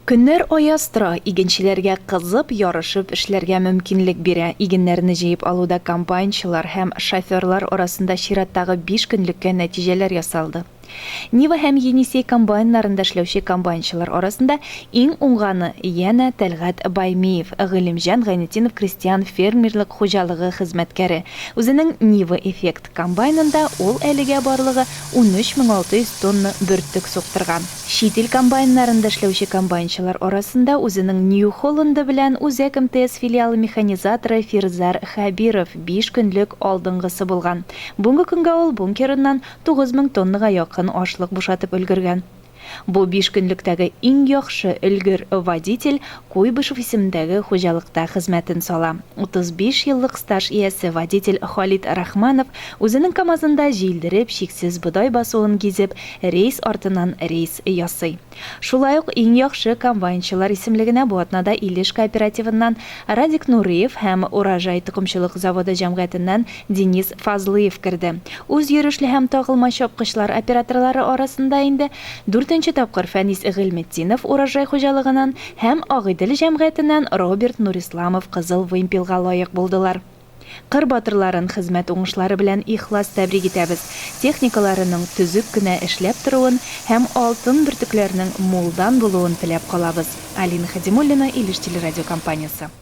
Көннәр аяз тора, игенчеләргә кызып, ярышып эшләргә мөмкинлек бирә. Игеннәрне җыеп алуда комбайнчылар һәм шоферлар арасында чираттагы биш көнлеккә нәтиҗәләр ясалды. Нива һәм Енисей комбайннарында эшләүче комбайнчылар арасында иң уңганы, янә Тәлгать Баймиев, Гыйлемҗан Гайнетдинов крестьян фермерлык хуҗалыгы хезмәткәре. Үзенең Нива Effect комбайнында ул әлегә барлыгы 13600 тонна бөртек суктырган. Чит ил комбайннарында эшләүче комбайнчылар арасында үзенең New Holland-ы белән Үзәк МТС филиалы механизаторы Фирзар Хәбиров биш көнлек алдынгысы булган. Бүгенге көнгә ул бункерыннан 9 мең тоннага якын ашлык бушатып өлгергән. Бу биш көнлектәге иң яхшы өлгер водитель Куйбышев исемендәге хуҗалыкта хезмәтен сала. 35 еллык стаж иясе водитель Халит Рахманов үзенең КАМАЗында җилдереп, чиксез бодай басуын гизеп, рейс артыннан рейс ясый. Шулай ук Иң яхшы комбайнчылар исемлегенә бу атнада Илеш кооперативыннан Радик Нуриев һәм Урожай токымчылык заводы җәмгыятеннән Денис Фазлыев керде. Үз йөрешле һәм тагылма чапкычлар операторлары арасында инде дүртенче тапкыр Фәнис Гыйльметдинов Урожай хуҗалыгыннан һәм Агыйдел җәмгыятеннән Роберт Нурисламов Кызыл вымпелга лаек булдылар. Кыр батырларын хезмәт уңышлары белән ихлас тәбрик итәбез, техникаларының төзек кенә эшләп торуын һәм алтын бөртекләрнең мулдан булуын теләп калабыз. Алина Хәдимуллина, Илеш телерадиокомпаниясе.